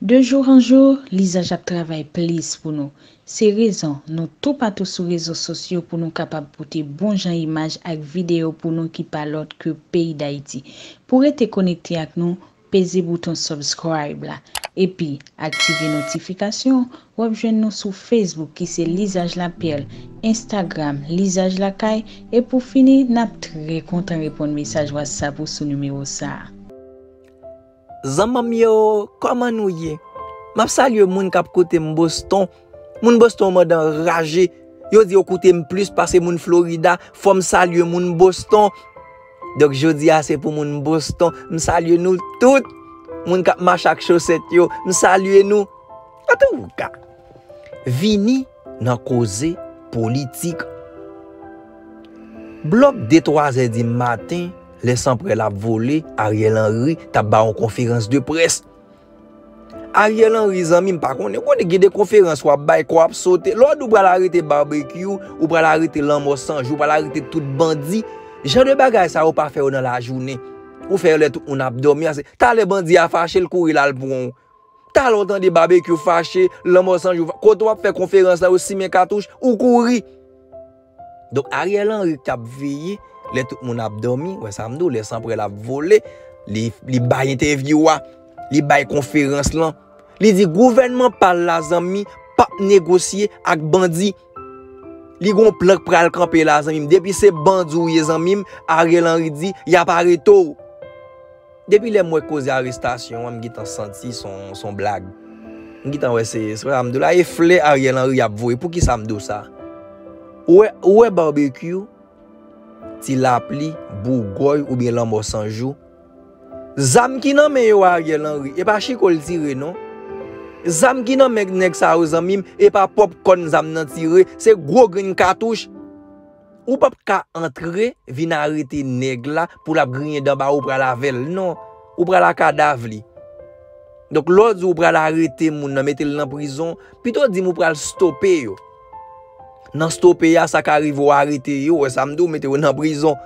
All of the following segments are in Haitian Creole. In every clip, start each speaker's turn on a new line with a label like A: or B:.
A: De jour en jour, Lizaj ap travay plis pou nou. Se rezon nou toupatou sou rezo sosyo pou nou kapab pote bon jan imaj ak videyo pou nou ki pa lòt ke peyi Dayiti. Pou rete konekte ak nou, peze bouton subscribe la. Epi, aktive notifikasyon, w ap jwenn nou sou Facebook ki se Lizaj Laperle, Instagram, Lizaj Lakay, e pou fini, n ap trè kontan reponn mesaj WhatsApp ou sou nimewo sa a. Zanmanm
B: yo koman nou ye map salye moun kap koutem boston moun boston mòd anraje yo di yo koutem plis pase moun florida fòm salye moun boston donk jodia se pou moun boston m salye nou tout moun kap mache ak chosèt yo m salye nou antouka vini nan koze politik. Blòk de twazè di maten, lè sanprèl ap vole, Ariel Henry t ap ba yon konferans de près. Ariel Henry zanmi m pa konnen, konnen gen de konferans w ap bay, kò ap sote. Lè w di w pral arete Barbecue, ou pral arete Lanmò 100 jou, ou pral arete tout bandi, jan de bagay sa yo pa fè yo nan lajounen. Ou fè yo lè tout moun ap dòmi. Talè bandi a fache, l kouri l al pran w. Talon tande babekyou fache lanmò sanjou fache kote wap fè konferans la yo simen katouch ou kouri donk ariel henry kap veye lè tout moun ap domi wè sam diw lè sanprèl ap vole li bay entèvyou wa li bay konferans lan li di gouvènman pal la zanmi pap negosye ak bandi li gon plan k pral kanpe la zanmim depi se bandi ou ye zanmim ariel henry di yap aretew. Depi lè m wè koze arestasyon an m gentan santi son blag. M gentan wè se sa m di w la e flè Ariel Henry ap voye poukisa m di w sa? Ou wè ou wè Barbecue, Ti Lapli, Bougòy oubyen Lanmò 100 jou, zam ki nan men yo a Ariel Henry e pa chiko l tire non. Zam ki nan men nèg sa yo zanmi m e pa pòpkòn zam nan tire, se gwo grenn katouch. Ou pap ka antre vin arete nèg la pou lap griyen dan ba ou pral avèl non ou pral a kadav li donk lè w di ou pral arete moun nan mete l nan prizon pito di m ou pral stope yo nan stope a sa ka rive w arete yo wè sa m di w mete yo nan prizon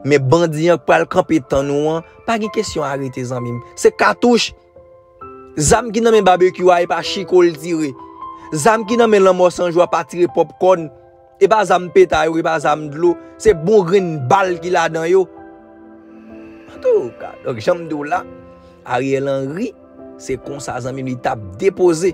B: men bandi an k pral kanpe tann ou an pa gen kesyon arete zanmi m se katouch zam ki nan men babekyou a e pa chiko l tire zam ki nan men lanmò sanjou a pa tire pòpkòn. E pa zam peta yo, e pa zam dlo, se bon grenn bal ki ladan yo. Antouka, donk janm di w la, Ariel Henry, se konsa zanmi m li tap depoze.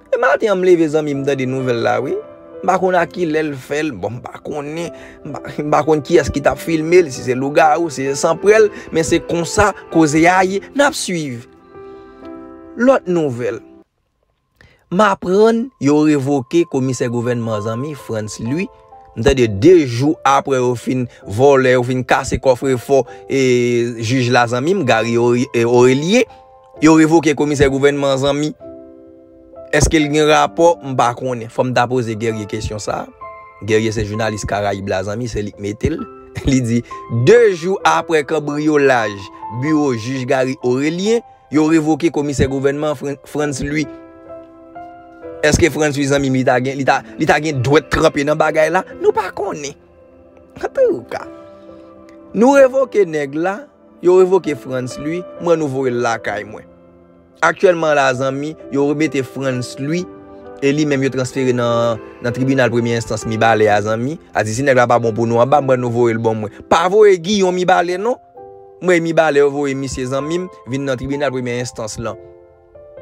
B: E maten an m leve zanmi m tande nouvèl la wi. M pa konn a kilè l fè l, bon m pa konnen, m pa konn kiyès ki tap filme l, si se lougawou, si se sanprèl, men se konsa koze a ye, nap swiv lòt nouvèl. M aprann yo revoke komisè gouvènman zanmi Frantz Louis m tande 2 jou aprè yo fin vòlè yo fin kase kòfrefò e jij la zanmi m Garry Aurelie yo revoke komisè gouvènman zanmi eske l gen rapò m pa konnen fò m ta poze Guerrier kesyon sa Guerrier se jounalis karayib la zanmi se li k mete l li di 2 jou aprè kanbriyolaj biwo jij Garry Aurelie. Yo revoke komisè gouvènman Frantz Louis. Eske Frantz Louis zanmim li ta gen li ta gen dwèt tranpe nan bagay la? Nou pa konnen. Antouka. Nou revoke nèg la, yo revoke Frantz Louis, mwen nou voye l lakay mwen. Aktyèlman la zanmi, yo remete Frantz Louis e li menm yo transfere nan nan tribinal premye enstans Mibalè a zanmi. Adi si nèg la pa bon pou nou anba, mwen nou voye l bon mwen. Pa voye Guyon Mibalè non. M renmin ba lè yo voye misye zanmim vin nan tribinal premyè enstans lan.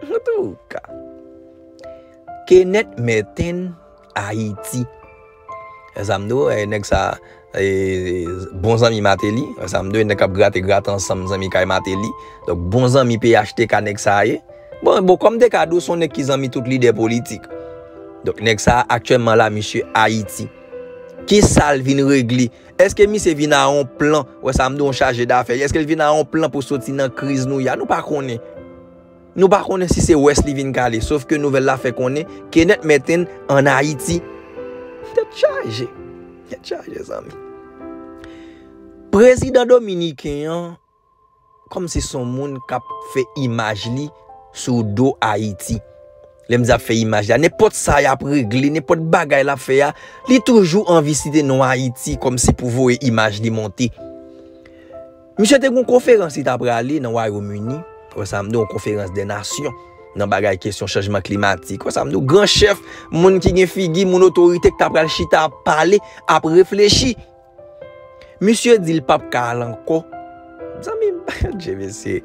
B: Antouka. Kenneth Merten Haiti. Wè sa m di w e nèg sa e bon zanmi Martelly. Wè sa m di w e nèg k ap grate grate ansanm zanmi kay Martelly. Donk bon zanmi phtk nèg sa ye. Bon bon kòm te ka di w se yon nèg ki zanmi tout lidè politik. Donk nèg sa aktyèlman la misye Ayiti. Ki sa l vin regle? Eske misye vin a yon plan, wè sa m di w yon chaje dafè, eske l vin a yon plan pou soti nan kriz nou ye a, nou pa konnen. Nou pa konnen si se wès li vin kale, sof ke nouvèl la fè konnen, Kenneth Merten an Ayiti. Tèt chaje, tèt chaje zanmi. Prezidan dominiken an. Kòmsi son moun kap fè imaj li sou do Ayiti. Lè mdi ap fè imaj la, nenpòt sa yap regle, nenpòt bagay lap fè a, li toujou anvi site non Ayiti kòmsi pou voye imaj li monte. Misye te gen yon konferans li ta prale nan Wayom Ini, wè sa mdi yon konferans dè nasyon, nan bagay kesyon chanjman klimatik, wè sa mdi w, gran chèf, moun ki gen figi, moun otorite ki ta pral chita ap pale, ap reflechi. Misye di li pap ka al ankò. Zanmi m pa je mesye.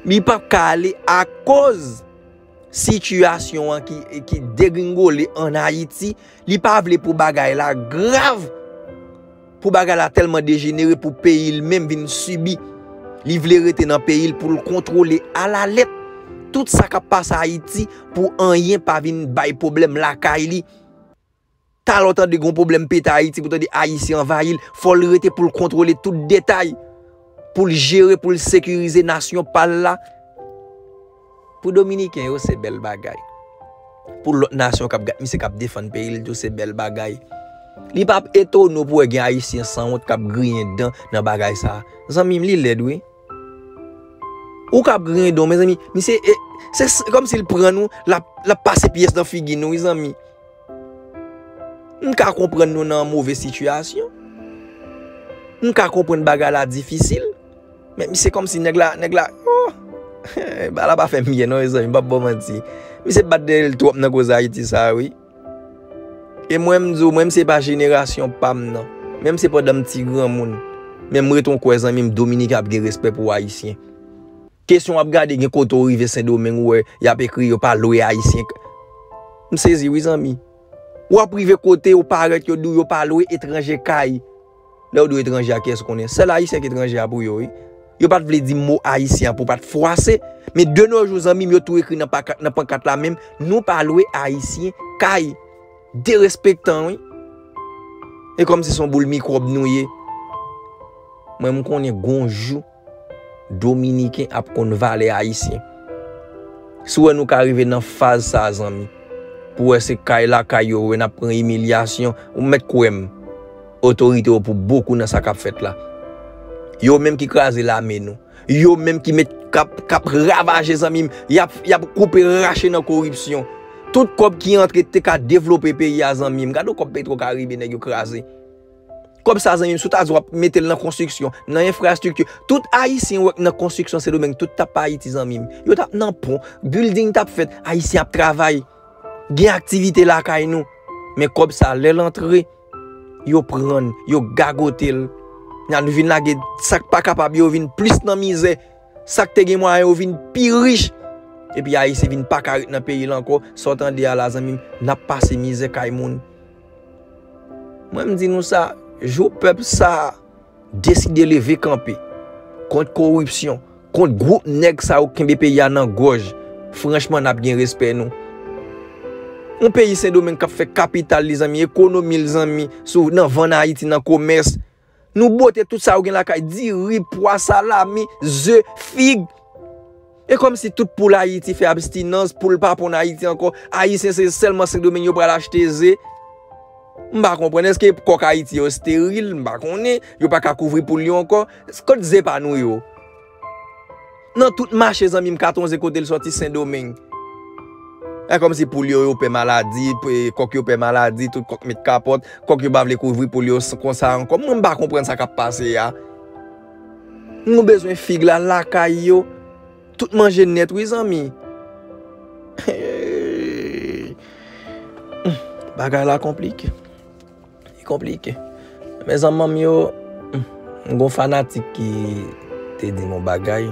B: Li pap ka ale akoz sitiyasyon an ki degringole an Ayiti. Li pa vle pou bagay la grav. Pou bagay la tèlman dejenere pou peyi l menm vin sibi. Li vle rete nan peyi l pou l kontwole alalèt. Tout sa k ap pase Ayiti pou anyen pa vin bay pwoblèm lakay li. Talè w tande gen yon pwoblèm pete Ayiti pou w tande Ayisyen anvayi l, fò l rete pou l kontwole tout detay, pou l jere, pou l sekirize nasyon pa l la. Pou Dominiken yo, se bèl bagay. Pou lòt nasyon k ap gad misye k ap defann peyi l tou, se bèl bagay. Li pa p etone w pou w wè gen Ayisyen sanwont k ap griyen dan nan bagay sa a. Zanmi m, li lèd wi. Ou ka ap griyen dan w, mezanmi, misye, se kòmsi l pran nou, l ap pase pyès nan figi nou wi zanmi. M ka konprann nou nan move sitiyasyon. M ka konprann bagay la difisil. Men se kòm si nèg la, nèg la, oh! Bagay la pa fè m byen non mezanmi, m pa p ba w manti. Misye bat dèyè l twòp nan koze Ayiti sa a wi. E mwen m di w, mwen m se pa jenerasyon pa m nan. Menm se pandan m ti granmoun. Men m ret yon kwè zanmi m Dominika ap gen respè pou Ayisyen. Kesyon wap gade gen kote ou rive sendomeng ou wè yap ekri yo pa lwe ayisyen k m sezi wi zanmi wap rive kote ou parèt yo diw yo pa lwe etranje kay lèw diw etranje a kiyès ou konnen sèl ayisyen ki etranje a pou yo wi yo pat vle di mo ayisyen an pou pat fwase men de no jou zanmim yo tou ekri nan pakat nan pankat la menm nou pa lwe ayisyen kay derespektan wi e kòmsi son boul mikwòb nou ye mwen m konnen gon jou. Dominiken ap konn valè ayisyen. Si w wè nou ka rive nan faz sa zanmi, pou wè se kay lakay yo ou wè n ap pran imilyasyon, ou mèt kwè m, otorite yo pou bokou nan sa k ap fèt la. Yo menm ki kraze lame nou. Yo menm ki met k ap ravaje zanmi m. Y ap y ap koupe rache nan koripsyon. Tout kòb ki antre te ka devlope peyi a zanmi m. Gade w kòb petwokaribe nèg yo kraze. Kob sa zanmim si w ta di wap metel nan konstriksyon, nan enfrastrikti, tout ayisyen ou wè ki nan konstriksyon sendomeng tout tap pa ayiti zanmim, yo tap nan pon, bilding tap fèt, ayisyen ap travay, gen aktivite lakay nou, men kob sa lèl antre, yo prann, yo gagotel, nan nou vin lage sak pa kapab yo vin plis nan mizè, sak te gen mwayen yo vin pi rich, epi ayisyen vin paka ret nan peyil ankò, sa w tande a la zanmim, nap pase mizè kay moun. Mwen m di nou sa, jou pèp sa a deside leve kanpe kont koripsyon, kont gwoup nèg sa yo k kenbe peyi a nan gòj, franchman n ap gen respè nou. Yon peyi Sendomeng k ap fè kapital li zanmi, ekonomi l zanmi, sou nan vann Ayiti, nan komès, Nou bwote tout sa yo gen lakay, diri, pwa, salami, ze, fig. E kòm si tout poul Ayiti fè abstinans, poul pa ponn Ayiti ankò, Ayisyen se sèlman Sendomeng yo pral achte ze? M pa konprann, èske kòk Ayiti yo steril? M pa konnen, yo pa ka kouvri poul yo ankò? Kot ze pa nou yo? Nan tout mache zanmim katon ze kotel soti sendomeng. E komsi poul yo yo pè maladi, kok yo pè maladi, tout kok met kapot, kok yo pa vle kouvri poul yo konsa anko. Mwen pa konprann sa kap pase a. Nou bezwen fig la lakay yo. Tout manje net wi zanmi. Bagay la konplike. Li konplike. Men zanmanm yo, m gon fanatik ki te di m yon bagay,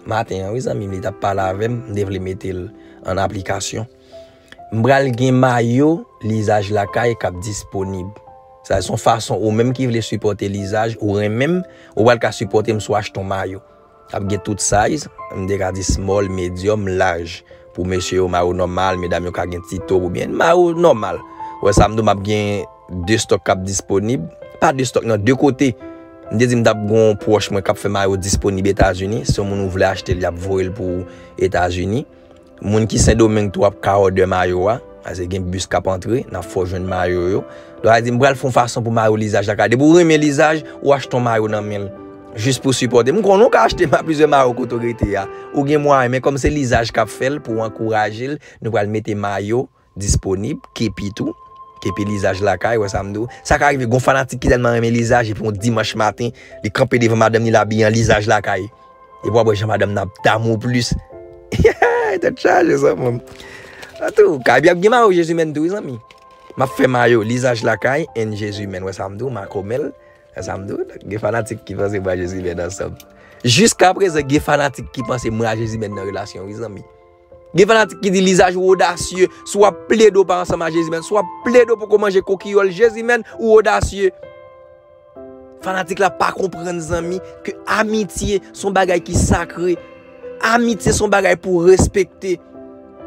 B: maten an wi zanmim li tap pale avè m, m te vle mete l an aplikasyon. M pral gen mayo Lizaj Lakay k ap disponib. Sa se yon fason ou menm ki vle sipòte Lizaj, ou renmen m, ou pral ka sipòte m si w achte yon mayo. Ap gen tout size, m te ka di small, medium, large. Pou mesye yo mayo nòmal, medam yo ka gen ti top oubyen mayo nòmal. Ou wè sa m di w m ap gen 2 stock k ap disponib, pa 2 stock nan, 2 kote. M te di m t ap gen yon pwòch mwen k ap fè mayo disponib Etazini, si yon moun ou vle achte l y ap voye l pou ou Etazini. Moun ki sendomeng tou ap ka òdè mayo a, pase gen bis kap antre, nap fè w jwenn mayo yo, lè wap di m pral fè yon fason pou mayo lizaj la ka, depi w renmen lizaj, ou achte yon mayo nan men l, jis pou sipòte, m konnen w ka achte plizyè mayo kote w rete a, ou gen mwayen, men kòm se lizaj kap fè l, pou ankouraje l, nou pral mete mayo, disponib, kepi tou, kepi lizaj lakay, wè sa m di w. Sa ka rive gen yon fanatik ki tèlman renmen lizaj epi yon dimanch maten li kanpe devan madanm li l abiye an lizaj lakay. Epi w ap wè jan madanm nan ap damou w plis. Yayayay tèt chaje zanmi m. Antou, kay bi ap gen mayo jezimèn tou wi zanmi. M ap fè mayo lizaj lakay and jezimèn wè sa m di w, makomè l. Wè sa m di w, gen fanatik ki panse mwen ak jezimèn ansanm. Jiskaprezan gen fanatik ki panse mwen ak jezimèn nan relasyon wi zanmi. Gen fanatik ki di lizaj ou odasye, si w ap plede ou pa ansanm a Jezimèn, si w ap plede ou poko manje kokiyòl Jezimèn, ou odasye. Fanatik la pa konprann zanmi ke amitye son bagay ki sakre. Amitye son bagay pou respekte.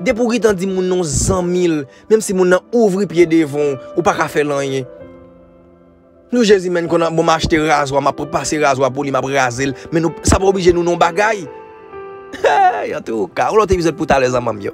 B: Depi ou gitan di moun nan w zanmi l, menm si moun nan ouvri pye devan w, ou pa ka fè l anyen. Nou jezi menn konn bon m achte razwa map pase razwa pou li map raze l men nou sa pa oblije nou non bagay Hey antouka yon lòt epizòd pou talè zanman m yo.